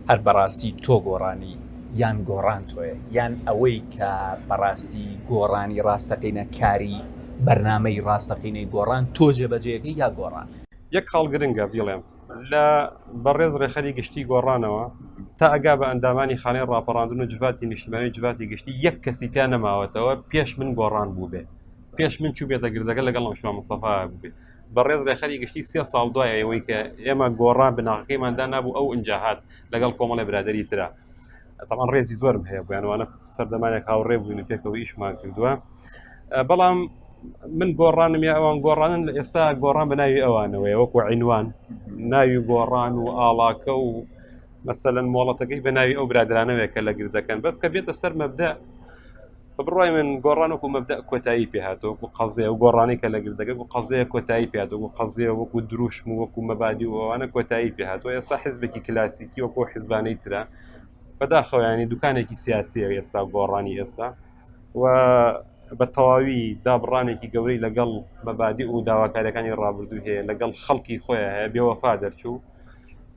هەر بەڕاستی تۆ گۆڕانی یان گۆڕان تۆیە یان ئەوەی کە بەڕاستی گۆڕانی ڕاستەقینە کاری بەرنامەی ڕاستەقینەی گۆڕان تۆ جێبەجێکەی یا گۆڕان؟ یەک خاڵ گرنگە بیڵێم لە بەڕێز ڕێکخەری گشتی گۆڕانەوە تا ئەگا بە ئەندامانی خانەی ڕاپەڕاندن و جڤاتی نیشتیمانی و جڤاتی گشتی یەک کەسی پیا نەماوەتەوە پێش من گۆڕان بووبێ پێش من چووبێتە گردەکە لەگەڵ ئەم شوان مستەفا بووبێ بەڕێز رێکخەری گشتی سێ ساڵ دوای ئەوەی کە ئێمە گۆڕان بناغەکەیمان دانابوو ئەو ئینجا هات لەگەڵ کۆمەڵی برادری ترا تەمان ڕێزی زۆرم هەیە بۆیانوانە سەردەمانێک هاوڕێ بووین پێکەوە ئیشمان کردووە بەڵام من گۆڕانم یا ئەوان گۆڕانن لە ئێستا گۆڕان بە ناوی ئەوانەوەی وەکو عینوان ناوی گۆڕان و ئاڵاکە و مەسەەن مۆڵەتەکەی بە ناوی ئەو برادرانەوەێکە لە گردەکەن بەس کە بێتە سەر مەبدا بە بڕوای من گۆڕان وەکو مەبدە کۆتایی پێهاتۆ وەکو قەزێ و گۆڕانی کە لە گردەکە و قەزەیە کۆتایی پێات وەکو قەزێ وەکو دروشم و وەکو مەبادی و ئەوانە کۆتایی پێهاتۆ ئێستا حزبێکی کلاسیکی وەکو حزبانەی ترە بەداخەوەیانی دوکانێکی سیاسیە ئێستا گۆڕانی ئێستا و بە تەواوی دابڕانێکی گەورەی لەگەڵ مەبادی و داواکارەکانی ڕابردوو هەیە لەگەڵ خەڵکی خۆیان هەیە بێوەفا دەرچوو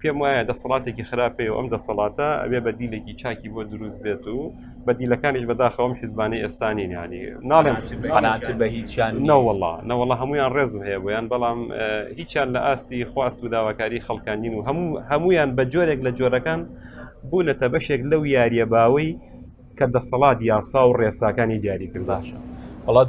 پێم وایە دەسەڵاتێکی خراپەیە و ئەم دەسەڵاتە ئەبێ بەدیلێکی چاکی بۆ دروست بێت و بەدیلەکانیش بەداخەوەم حیزبانی ئێستانی نانی ناڵێن قەنات بە هیچیان نەوەڵا نەوەڵا هەمویان ڕێزم هەیە بۆیان بەڵام هیچیان لە ئاستی خواست و داواکاری خەڵکانین و هەموو هەمویان بە جۆرێک لە جۆرەکان بوونەتە بەشێک لەو یاریە باوەی کە دەسەڵات یاسا و ڕێساکانی دیاری کرد باشە وڵات